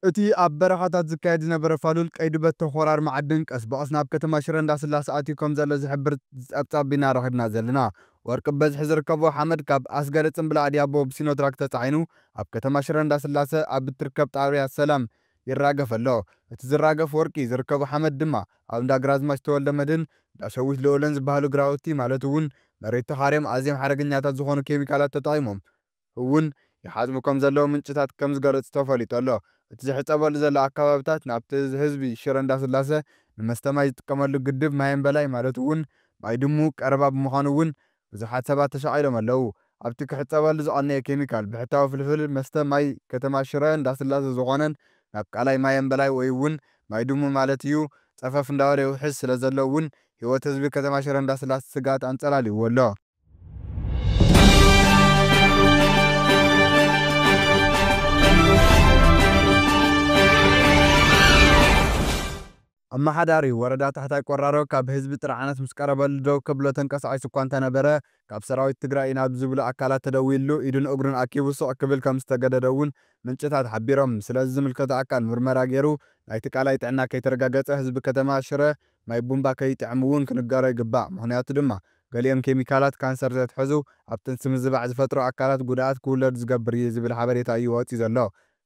እቲ ኣብ በረኻታት ዝካየድ ዝነበረ ፋሉል ቀይዲ በቶ ኾራር መዓድን ቀስ ብቐስ ናብ ከተማ ሽረ እንዳስላሰ ኣትዩ ከም ዘሎ ዝሕብር ጸብጻብ ኢና ረኺብና ዘለና። ወርቂ ብበዝሒ ዝርከቦ ሓመድ ካብ ኣስገደ ጽምብል ኣድያቦ ብሲኖትራክ ተጻዒኑ ኣብ ከተማ ሽረ እንዳስላሰ ኣብ እትርከብ ጣብያ ሰላም ይራገፍ ኣሎ። እቲ ዝራገፍ ወርቂ ዝርከቦ ሓመድ ድማ ኣብ እንዳ ግራዝማች ተወልደ መድህን፣ እንዳ ሸዊት ልኡልን ዝበሃሉ ግራውቲ ማለት እውን መሬት ተኻርዮም ኣዝዮም ሓደገኛታት ዝኾኑ ኬሚካላት ተጠቒሞም እውን ይሓጽቡ ከም ዘለዉ ምንጭታት ከም ዝገለጹ ተፈሊጡ ኣሎ። እቲ ዝሕጸበሉ ዘሎ ኣከባብታት ናብቲ ህዝቢ ሽረ እንዳስላሰ ንመስተ ማይ ዝጥቀመሉ ግድብ ማየምበላይ ማለት እውን ማይ ድሙ ቀረባ ብምዃኑ እውን ብዙሓት ሰባት ተሻቒሎም ኣለዉ። ኣብቲ ክሕጸበሉ ዝቐነየ ኬሚካል ብሕታዊ ፍልፍል መስተ ማይ ከተማ ሽረ እንዳስላሰ ዝኾነን ናብ ቃላይ ማየምበላይ ወይ እውን ማይ ድሙ ማለት እዩ ጸፈፍ እንዳበለ ይውሕዝ ስለ ዘሎ እውን ህይወት ህዝቢ ከተማ ሽረ እንዳስላሰ ስግኣት ኣንጸላልይዎ ኣሎ። ኣመሓዳሪ ወረዳ ታሕታይ ቆራሮ ካብ ህዝቢ ጥርዓናት ምስ ቀረበሉ ደው ከብሎ ተንቀሳቒሱ እኳ እንተነበረ፣ ካብ ሰራዊት ትግራይ ኢና ብዝብሉ ኣካላት ተደዊልሉ ኢዱን እግሩን ኣኪቡ ስቕ ክብል ከም ዝተገደደ እውን ምንጭታት ሓቢሮም። ስለዚ ዝምልከቶ ኣካል ምርመራ ገይሩ ናይቲ ቃላይ ጥዕና ከይተረጋገፀ ህዝቢ ከተማ ሽረ ማይ ቡምባ ከይጥዕሙ እውን ክንገሮ ይግባእ፣ ምኽንያቱ ድማ ገሊኦም ኬሚካላት ካንሰር ዘትሕዙ፣ ኣብ ጥንሲ ምዝባዕ ዝፈጥሩ ኣካላት ጉድኣት ክውለዱ ዝገብር እዩ ዝብል ሓበሬታ እዩ ወፂኡ ዘሎ።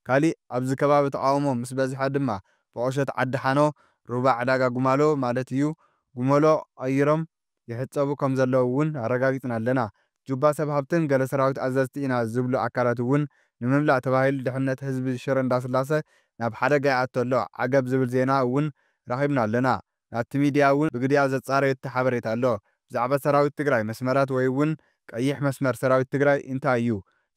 ካሊእ ኣብዚ ከባቢ ተቓውሞ ምስ በዝሐ ድማ ብቑሸት ዓዲ ሓኖ፣ ሩባ ዕዳጋ ጉማሎ ማለት እዩ፣ ጉመሎ ቐይሮም ይሕጸቡ ከም ዘለዉ እውን ኣረጋጊጽና ኣለና። ጁባ ሰብ ሃብትን ገለ ሰራዊት ኣዘዝቲ ኢና ዝብሉ ኣካላት እውን ንምምላእ ተባሂሉ ድሕነት ህዝቢ ሽረ እንዳስላሰ ናብ ሓደጋ ይኣቱ ኣሎ ዓገብ ዝብል ዜና እውን ረኺብና ኣለና። ናብቲ ሚድያ እውን ብግዲኣ ዘጻረዮቶ ሓበሬታ ኣሎ። ብዛዕባ ሰራዊት ትግራይ መስመራት ወይ እውን ቀይሕ መስመር ሰራዊት ትግራይ እንታይ እዩ?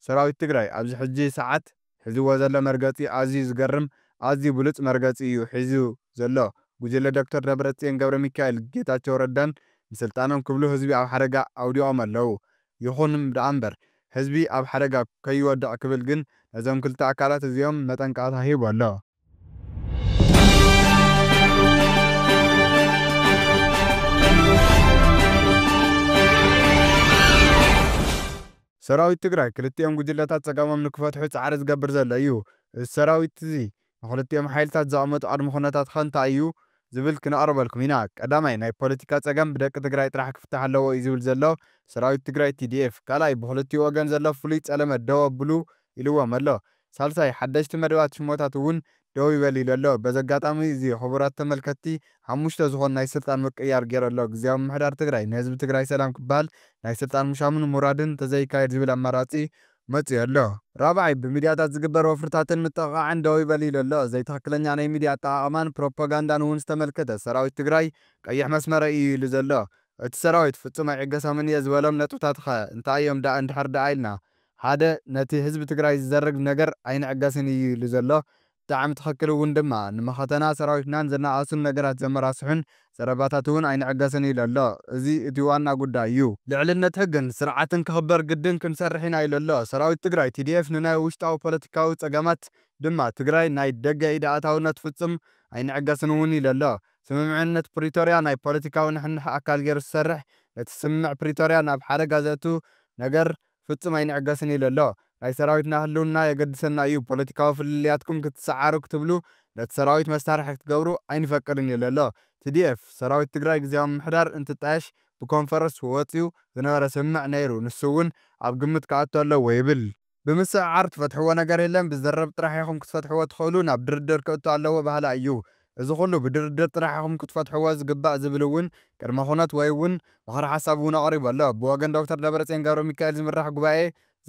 ሰራዊት ትግራይ ኣብዚ ሕጂ ሰዓት? ሕዝዎ ዘሎ መርገጺ ኣዝዩ ዝገርም ኣዝዩ ብሉጽ መርገጺ እዩ ሒዙ ዘሎ ጉጅለ ዶክተር ደብረጽዮን ገብረሚካኤል ጌታቸው ረዳን ንስልጣኖም ክብሉ ህዝቢ ኣብ ሓደጋ ኣውዲቆም ኣለው ይኹን ደኣምበር ህዝቢ ኣብ ሓደጋ ከይወድቅ ክብል ግን ነዞም ክልተ ኣካላት እዚኦም መጠንቀቅታ ሂቡ ኣሎ። ሰራዊት ትግራይ ክልቲኦም ጉጅለታት ፀገሞም ንክፈትሑ ፃዕሪ ዝገብር ዘሎ እዩ። እዚ ሰራዊት እዚ ንክልቲኦም ሓይልታት ዘቐመጦ ቅድመ ኩነታት ኸ እንታይ እዩ? ዝብል ክነቕርበልኩም ኢና። ቀዳማይ ናይ ፖለቲካ ፀገም ብደቂ ትግራይ ጥራሕ ክፍታሕ ኣለዎ እዩ ዝብል ዘሎ ሰራዊት ትግራይ፣ TDF። ካልኣይ ብኽልቲኡ ወገን ዘሎ ፍሉይ ፀለመ ደው ኣብሉ ኢልዎም ኣሎ። ሳልሳይ፣ ሓደሽቲ መደባት ሽሞታት እውን ደው ይበል ኢሉ ኣሎ። በዚ ኣጋጣሚ እዚ ክቡራት ተመልከትቲ ሓሙሽተ ዝኾኑ ናይ ስልጣን ምቅይያር ጌሩ ኣሎ። ግዝያዊ ምምሕዳር ትግራይ ንህዝቢ ትግራይ ሰላም ክበሃል ናይ ስልጣን ምሻሙን ምውራድን ተዘይካየድ ዝብል ኣማራጺ መጺኡ ኣሎ። ራብዓይ፣ ብሚድያታት ዝግበር ወፍርታትን ምጥቕቓዕን ደው ይበል ኢሉ ኣሎ። ዘይትኽክለኛ ናይ ሚድያ ኣጠቓቕማን ፕሮፖጋንዳን እውን ዝተመልከተ ሰራዊት ትግራይ ቀይሕ መስመረይ እዩ ኢሉ ዘሎ እቲ ሰራዊት ፍጹም ኣይዕገሶምን እየ ዝበሎም ነጥብታት'ኸ እንታይ እዮም ደኣ እንድሕር ደኣ ኢልና ሓደ ነቲ ህዝቢ ትግራይ ዝዘርግ ነገር ኣይንዕገስን እዩ ኢሉ ዘሎ ብጣዕሚ ትኽክል እውን ድማ ንመኸተና ሰራዊትናን ዘነኣእሱን ነገራት ዘመራስሑን ዘረባታት እውን ኣይንዕገስን ኢሉ ኣሎ እዚ እቲ ዋና ጉዳይ እዩ። ልዕልነት ሕግን ስርዓትን ክኽበር ግድን ክንሰርሕ ኢና ኢሉ ኣሎ ሰራዊት ትግራይ። TDF ንናይ ውሽጣዊ ፖለቲካዊ ፀገማት ድማ ትግራይ ናይ ደገ ኢድ ኣእታውነት ፍፁም ኣይንዕገስን እውን ኢሉ ኣሎ። ስምምዕነት ፕሪቶርያ ናይ ፖለቲካዊ ንሕንሕ ኣካል ገይሩ ዝሰርሕ ነቲ ስምምዕ ፕሪቶርያ ናብ ሓደጋ ዘእቱ ነገር ፍጹም ኣይንዕገስን ኢሉ ኣሎ። ናይ ሰራዊትና ህልውና የገድሰና እዩ፣ ፖለቲካዊ ፍልልያትኩም ክትሰዓሩ ክትብሉ ነቲ ሰራዊት መሳርሒ ክትገብሩ ኣይንፈቅድን ኢሉ ኣሎ። TDF፣ ሰራዊት ትግራይ ግዝያዊ ምምሕዳር እንትጣየሽ ብኮንፈረስ ወጽዩ ዝነበረ ስምምዕ ነይሩ፣ ንሱ እውን ኣብ ግምት ክኣቱ ኣለዎ ይብል። ብምስዕዓር ትፈትሕዎ ነገር የለን፣ ብዝርርብ ጥራሕ ኢኹም ክትፈትሕዎ ትኽእሉ፣ ናብ ድርድር ክእቱ ኣለዎ በሃላይ እዩ። እዚ ኩሉ ብድርድር ጥራሕ ኢኹም ክትፈትሕዎ ዝግባእ ዝብል እውን ቅድመ ኩነት ወይ እውን ምኽረ ሓሳብ እውን ኣቕሪቡ ኣሎ። ብወገን ዶክተር ደብረፅዮን ገብረሚካኤል ዝምራሕ ጉባኤ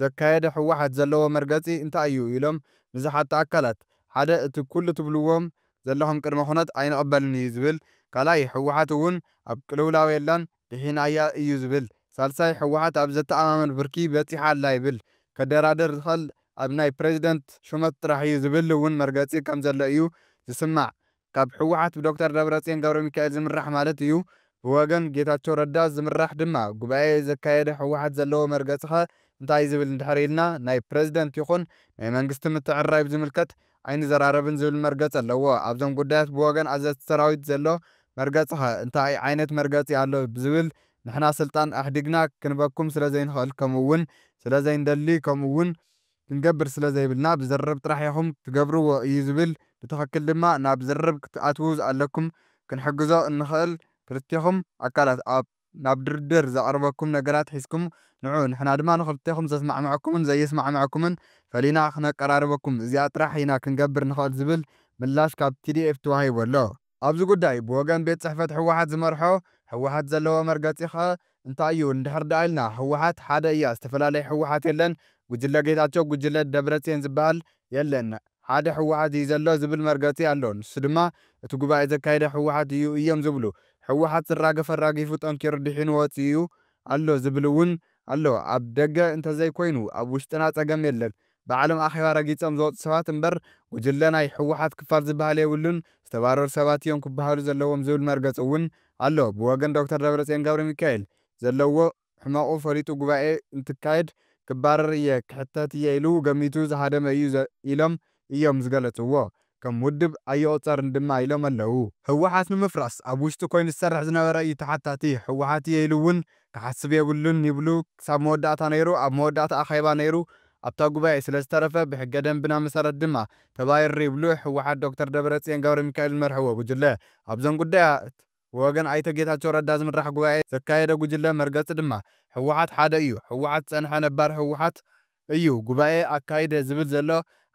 ዘካየደ ህወሓት ዘለዎ መርገፂ እንታይ እዩ ኢሎም ንዝሓቱ ኣካላት ሓደ እቲ ኩሉ ትብልዎም ዘለኹም ቅድመ ኩነት ኣይንቕበልን እዩ ዝብል ካልኣይ ህወሓት እውን ኣብ ቅልውላው የላን ድሒናያ እዩ ዝብል። ሳልሳይ ህወሓት ኣብ ዘተኣማምን ብርኪ በፂሓ ኣላ ይብል። ከደራድር ዝኽእል ኣብ ናይ ፕረዚደንት ሹመት ጥራሕ እዩ ዝብል እውን መርገፂ ከም ዘሎ እዩ ዝስማዕ። ካብ ህወሓት ብዶክተር ደብረፅዮን ገብረሚካኤል ዝምራሕ ማለት እዩ። ብወገን ጌታቸው ረዳ ዝምራሕ ድማ ጉባኤ ዘካየደ ህወሓት ዘለዎ መርገፂኸ እንታይ እዩ ዝብል እንድሕር ኢልና ናይ ፕረዚደንት ይኹን ናይ መንግስቲ ምትዕርራይ ብዝምልከት ኣይንዘራረብን ዝብል መርገጺ ኣለዎ። ኣብዞም ጉዳያት ብወገን ኣዘዝቲ ሰራዊት ዘሎ መርገጺኸ እንታይ ዓይነት መርገጺ ኣሎ ብዝብል ንሕና ስልጣን ኣሕዲግና ክንበኩም ስለዘይንኽእል ከምኡ'ውን ስለዘይንደሊ ከምኡ'ውን ክንገብር ስለዘይብልና ብዝርርብ ጥራሕ ኢኹም ትገብርዎ እዩ ዝብል ብትኽክል ድማ ናብ ዝርርብ ክትኣትዉ ኣለኩም ክንሕግዞ እንኽእል ክልቴኹም ኣካላት ኣብ ናብ ድርድር ዘቕርበኩም ነገራት ሒዝኩም ንዑ፣ ንሕና ድማ ንኽልቴኹም ዘስማዕምዐኩምን ዘየስማዕምዐኩምን ፈሊና ክነቀራርበኩም፣ እዚኣ ጥራሕ ኢና ክንገብር ንኽእል ዝብል ምላሽ ካብ tdf ተዋሂቡ ኣሎ። ኣብዚ ጉዳይ ብወገን ቤት ጽሕፈት ህወሓት ዝመርሖ ህወሓት ዘለዎ መርገጺ ከ እንታይ እዩ እንድሕር ደኣ ኢልና፣ ህወሓት ሓደ እያ ዝተፈላለየ ህወሓት የለን፣ ጉጅለ ጌታቸው፣ ጉጅለ ደብረጽዮን ዝበሃል የለን፣ ሓደ ህወሓት እዩ ዘሎ ዝብል መርገፂ ኣሎ። ንሱ ድማ እቲ ጉባኤ ዘካየደ ህወሓት እዩ እዮም ዝብሉ። ህወሓት ዝራገፍ ኣራጊፉ ጠንኪሩ ዲሒኑ ወፂኡ ኣሎ ዝብል እውን ኣሎ። ኣብ ደገ እንተዘይኮይኑ ኣብ ውሽጥና ፀገም የለን። ባዕሎም ኣኼባ ረጊፆም ዝወፁ ሰባት እምበር ጉጅለ ናይ ህወሓት ክፋል ዝብሃል የብሉን፣ ዝተባረሩ ሰባት እዮም ክብሃሉ ዘለዎም ዝብል መርገፂ እውን ኣሎ። ብወገን ዶክተር ደብረፅዮን ገብረሚካኤል ዘለዎ። ሕመቑ ፈሊጡ ጉባኤ እንትካየድ ክባረር እየ፣ ክሕተት እየ ኢሉ ገሚቱ ዝሃደመ እዩ ኢሎም እዮም ዝገለፅዎ። ከም ውድብ ኣይቑፀርን ድማ ኢሎም ኣለው። ህወሓት ንምፍራስ ኣብ ውሽጡ ኮይኑ ዝሰርሕ ዝነበረ እዩ ተሓታቲ። ህወሓት እየ ኢሉ እውን ክሓስብ የብሉን ይብሉ ክሳብ መወዳእታ ነይሩ። ኣብ መወዳእታ ኣኼባ ነይሩ ኣብታ ጉባኤ ስለዝተረፈ ብሕገ ደንብና መሰረት ድማ ተባሪሩ ይብሉ ህወሓት ዶክተር ደብረፅዮን ገብረሚካኤል ዝመርሕዎ ጉጅለ። ኣብዞም ጉዳያት። ብወገን ኣይተ ጌታቸው ረዳ ዝምራሕ ጉባኤ ዘካየደ ጉጅለ መርገፂ ድማ ህወሓት ሓደ እዩ፣ ህወሓት ዝፀንሐ ነባር ህወሓት እዩ፣ ጉባኤ ኣካይደ ዝብል ዘሎ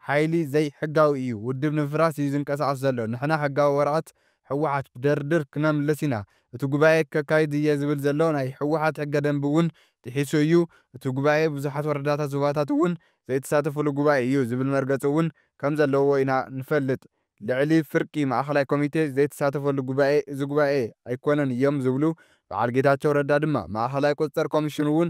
ሓይሊ ዘይሕጋዊ እዩ፣ ውድብ ንምፍራስ እዩ ዝንቀሳቐስ ዘሎ፣ ንሕና ሕጋዊ ወረቐት ህወሓት ብድርድር ክነምልስ ኢና፣ እቲ ጉባኤ ከካይድ እየ ዝብል ዘሎ ናይ ህወሓት ሕገ ደንቢ እውን ጥሒሱ እዩ፣ እቲ ጉባኤ ብዙሓት ወረዳታት ዞባታት እውን ዘይተሳተፍሉ ጉባኤ እዩ ዝብል መርገፂ እውን ከምዘለዎ ኢና ንፈልጥ። ልዕሊ ፍርቂ ማእኸላይ ኮሚቴ ዘይተሳተፈሉ ጉባኤ እዚ ጉባኤ ኣይኮነን እዮም ዝብሉ በዓል ጌታቸው ረዳ ድማ ማእኸላይ ቁፅፅር ኮሚሽን እውን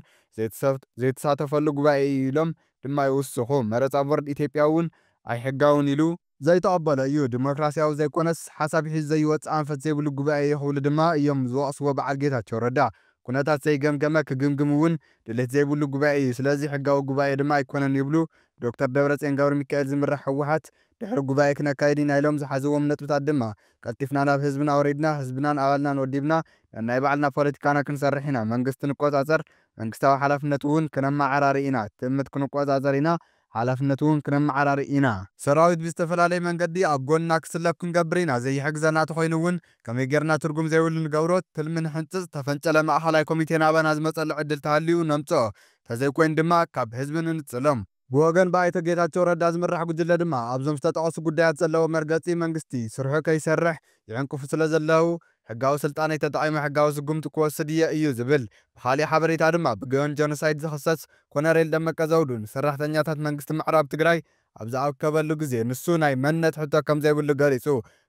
ዘይተሳተፈሉ ጉባኤ እዩ ኢሎም ድማ ይውስኹ። መረፃ ቦርድ ኢትዮጵያ እውን ኣይሕጋውን ኢሉ፣ ዘይተቐበሎ እዩ፣ ዲሞክራሲያዊ ዘይኮነስ ሓሳብ ሒዙ ዘይወፅእ ኣንፈት ዘይብሉ ጉባኤ እዩ ክብሉ ድማ እዮም ዝወቕስዎ በዓል ጌታቸው ረዳ። ኩነታት ዘይገምገመ ክግምግም እውን ድሌት ዘይብሉ ጉባኤ እዩ፣ ስለዚ ሕጋዊ ጉባኤ ድማ ኣይኮነን ይብሉ። ብዶክተር ደብረፅዮን ገብረሚካኤል ዝምራሕ ህወሓት ድሕሪ ጉባኤ ክነካይድ ኢና ኢሎም ዝሓዝዎም ነጥብታት ድማ ቀልጢፍና ናብ ህዝብና ወሪድና ህዝብናን ኣባልናን ወዲብና ነናይ ባዕልና ፖለቲካና ክንሰርሕ ኢና፣ መንግስቲ ንቆፃፀር፣ መንግስታዊ ሓላፍነት እውን ክነመዓራሪ ኢና፣ ትእምት ክንቆፃፀር ኢና፣ ሓላፍነት እውን ክነመዓራሪ ኢና። ሰራዊት ብዝተፈላለየ መንገዲ ኣብ ጎንና ክስለፍ ክንገብር ኢና፣ ዘይሕግዘና ተኾይኑ እውን ከመይ ገይርና ትርጉም ዘይብሉ ንገብሮ፣ ትልሚ ንሕንፅፅ፣ ዝተፈንጨለ ማእኸላይ ኮሚቴ ናባና ዝመፀሉ ዕድል ተሃልዩ ነምፅኦ፣ ተዘይኮይኑ ድማ ካብ ህዝቢ ንንፅሎም። ብወገን ብኣይተ ጌታቸው ረዳ ዝምራሕ ጉጅለ ድማ ኣብዞም ዝተጠቐሱ ጉዳያት ዘለዎ መርገፂ መንግስቲ ስርሑ ከይሰርሕ ይዕንቅፉ ስለዘለው ሕጋዊ ስልጣነይ ተጠቒመ ሕጋዊ ስጉምቲ ክወስድ እየ እዩ ዝብል። ብኻሊእ ሓበሬታ ድማ ብገዮን ጀኖሳይድ ዝኽሰስ ኮነሬል ደመቀ ዘውዱ ንሰራሕተኛታት መንግስቲ ምዕራብ ትግራይ ኣብ ዝኣከበሉ ግዜ ንሱ ናይ መንነት ሕቶ ከምዘይብሉ ገሊፁ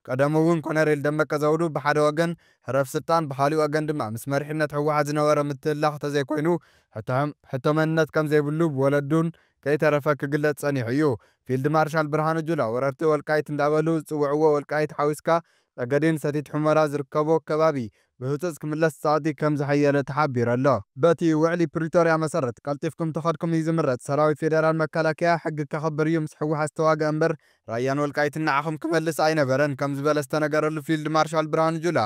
ቀደሙ እውን ኮነሬል ደመቀ ዘውዱ ብሓደ ወገን ህረፍ ስልጣን ብኻሊእ ወገን ድማ ምስ መሪሕነት ህወሓት ዝነበሮ ምትህልላኽ ተዘይኮይኑ ሕቶ ሕቶ መንነት ከምዘይብሉ ብወለዱን ከይተረፈ ክግለፅ ፀኒሑ እዩ። ፊልድ ማርሻል ብርሃኑ ጁላ ወረርቲ ወልቃይት እንዳበሉ ዝፅውዕዎ ወልቃይት ሓዊስካ ፀገዴን ሰቲት ሑመራ ዝርከቦ ከባቢ ብህጹጽ ክምለስ ጸቕጢ ከም ዝሐየለ ተሓቢሩ ኣሎ። በቲ ውዕሊ ፕሪቶርያ መሰረት ቀልጢፍኩም ተኸድኩም እዩ ዝምረጽ፣ ሰራዊት ፌደራል መከላከያ ሕጊ ከኽብር እዩ ምስ ሕወሓት ዝተዋገኣ እምበር ራያን ወልቃይትን ንዓኹም ክመልስ ኣይነበረን ከም ዝበለ ዝተነገረሉ ፊልድ ማርሻል ብርሃኑ ጁላ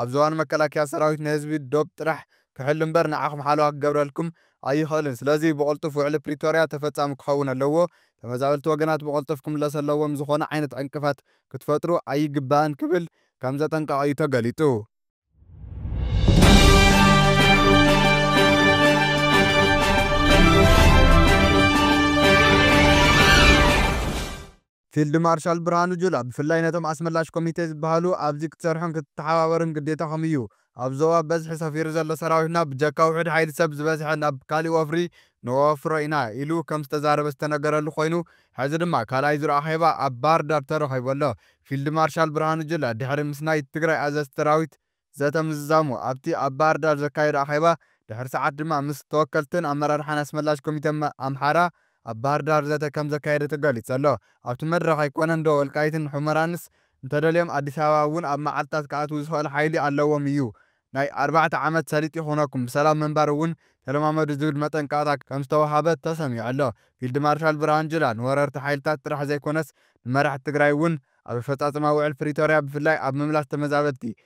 ኣብ ዝባኑ መከላከያ ሰራዊት ንህዝቢ ዶብ ጥራሕ ክሕሉ እምበር ንዓኹም ሓለዋ ክገብረልኩም ኣይኽእልን ስለዚ ብቕልጡፍ ውዕሊ ፕሪቶርያ ተፈጻሚ ክኸውን ኣለዎ ተመዛበልቲ ወገናት ብቐልጡፍ ክምለሱ ኣለዎም ዝኾነ ዓይነት ዕንቅፋት ክትፈጥሩ ኣይግባእን ክብል ከምዘጠንቀቐ'ዩ ተገሊጹ። ፊልድ ማርሻል ብርሃኑ ጁላ ብፍላይ ነቶም ኣስመላሽ ኮሚቴ ዝበሃሉ ኣብዚ ክትሰርሕን ክትተሓባበርን ግዴታኹም እዩ ኣብ ዞባ ብበዝሒ ሰፊሩ ዘሎ ሰራዊትና ብጀካ ውሑድ ሓይሊ ሰብ ዝበዝሐ ናብ ካሊእ ወፍሪ ነወፍሮ ኢና ኢሉ ከምዝተዛረበ ዝተነገረሉ ኮይኑ ሕዚ ድማ ካልኣይ ዙር ኣኼባ ኣብ ባህርዳር ተረኺቡ ኣሎ። ፊልድ ማርሻል ብርሃኑ ጁላ ድሕሪ ምስ ናይ ትግራይ ኣዘዝቲ ሰራዊት ዘተ ምዝዛሙ ኣብቲ ኣብ ባህርዳር ዘካየዶ ኣኼባ ድሕሪ ሰዓት ድማ ምስ ተወከልትን ኣመራርሓን ኣስመላሽ ኮሚተ ኣምሓራ ኣብ ባህርዳር ዘተ ከምዘካየደ ተገሊፁ ኣሎ። ኣብቲ መድረኽ ኣይኮነንዶ ወልቃይትን ሑመራንስ እንተደልዮም ኣዲስ ኣበባ እውን ኣብ መዓልትታት ክኣትዉ ዝኸእል ሓይሊ ኣለዎም እዩ። ናይ ኣርባዕተ ዓመት ሰሊጥ ይኹነኩም፣ ብሰላም ምንባር እውን ተለማመዱ ዝብል መጠንቀቕታ ከምዝተወሃበ ተሰሚዑ ኣሎ። ፊልድ ማርሻል ብርሃኑ ጁላ ንወረርቲ ሓይልታት ጥራሕ ዘይኮነስ ንመራሕቲ ትግራይ እውን ኣብ ኣፈፃፅማ ውዕል ፕሪቶርያ ብፍላይ ኣብ ምምላስ ተመዛበልቲ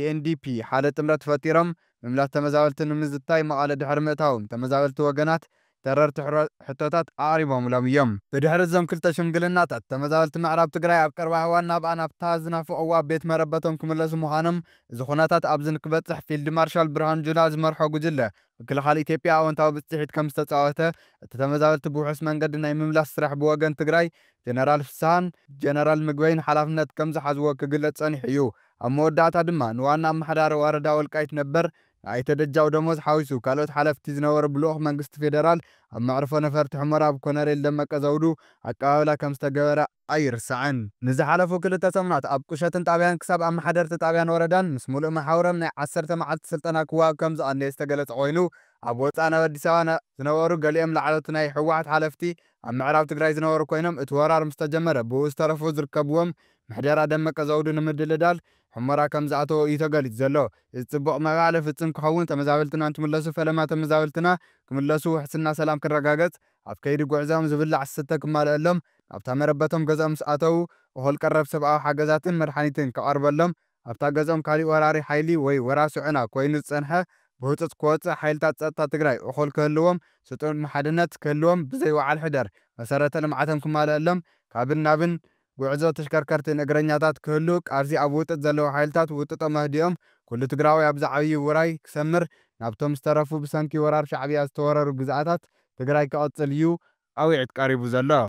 UNDP፣ ሓደ ጥምረት ፈጢሮም ምምላስ ተመዛበልቲ ንምዝታይ መቐለ ድሕሪ ምእታዎም፣ ተመዛበልቲ ወገናት ተረርቲ ሕቶታት ኣቕሪቦምሎም እዮም። ብድሕሪ እዞም ክልተ ሽምግልናታት፣ ተመዛበልቲ ምዕራብ ትግራይ ኣብ ቀረባ እዋን ናብኣ ናብታ ዝናፍቕዋ ቤት መረበቶም ክምለሱ ምዃኖም፣ እዚ ኩነታት ኣብዚ ንክበጽሕ ፊልድ ማርሻል ብርሃኑ ጁላ ዝመርሖ ጉጅለ ምክልኻል ኢትዮጵያ ኣወንታዊ ብፅሒት ከምዝተፃወተ እቲ ተመዛበልቲ ብውሑስ መንገዲ ናይ ምምላስ ስራሕ ብወገን ትግራይ ጀነራል ፍስሃን ጀነራል ምግበይን ሓላፍነት ከምዝሓዝዎ ክግለፅ ፀኒሑ እዩ። ኣብ መወዳእታ ድማ ንዋና ኣመሓዳሪ ወረዳ ወልቃይት ነበር ንኣይተ ደጃው ደሞዝ ሓዊሱ ካልኦት ሓለፍቲ ዝነበሩ ብልኡኽ መንግስቲ ፌደራል ኣብ መዕርፎ ነፈርቲ ሑመራ ብኮነሬል ደመቀ ዘውዱ ኣቀባብላ ከምዝተገበረ ኣይርሳዕን። ንዝሓለፉ ክልተ ሰሙናት ኣብ ቁሸትን ጣብያን ክሳብ ኣመሓደርቲ ጣብያን ወረዳን ምስ ሙሉእ መሓውሮም ናይ ዓሰርተ መዓልቲ ስልጠና ክወሃብ ከምዝቐነየ ዝተገለፀ ኮይኑ ኣብ ወፃእ ናብ ኣዲስ ኣበባ ዝነበሩ ገሊኦም ላዕለዎት ናይ ህወሓት ሓለፍቲ ኣብ ምዕራብ ትግራይ ዝነበሩ ኮይኖም እቲ ወራር ምስተጀመረ ብኡ ዝተረፉ ዝርከብዎም ምሕደራ ደመቀ ዘውዱ ንምድልዳል ሑመራ ከምዝኣተዉ እዩ ተገሊፁ ዘሎ። እዚ ፅቡቕ ምዕባለ ፍፅም ክኸውን ተመዛበልትና እንትምለሱ ፈለማ ተመዛበልትና ክምለሱ ውሕስና ሰላም ክረጋገፅ ኣብ ከይዲ ጉዕዘኦም ዝብላዕ ዝስተ ክማልኣሎም ናብታ መረበቶም ገዝኦም ምስ ኣተዉ እኹል ቀረብ ሰብኣዊ ሓገዛትን መድሓኒትን ክቐርበሎም ኣብታ ገዝኦም ካሊእ ወራሪ ሓይሊ ወይ ወራሲ ዑና ኮይኑ ዝፀንሐ ብህፁፅ ክወፅእ ሓይልታት ፀጥታ ትግራይ እኹል ክህልዎም ስጡም ሓድነት ክህልዎም ብዘይ ወዓል ሕደር መሰረተ ልምዓቶም ክማልኣሎም ካብን ናብን ጉዕዞ ተሽከርከርትን እግረኛታት ክህሉ ቃልሲ ኣብ ውጥጥ ዘለዉ ሓይልታት ውጥጦም ኣህዲኦም ኩሉ ትግራዋይ ኣብዚ ዓብዪ ውራይ ክሰምር ናብቶም ዝተረፉ ብሰንኪ ወራር ሻዕብያ ዝተወረሩ ግዝኣታት ትግራይ ክቕፅል ዩ ፃዊዕት ቀሪቡ ዘሎ።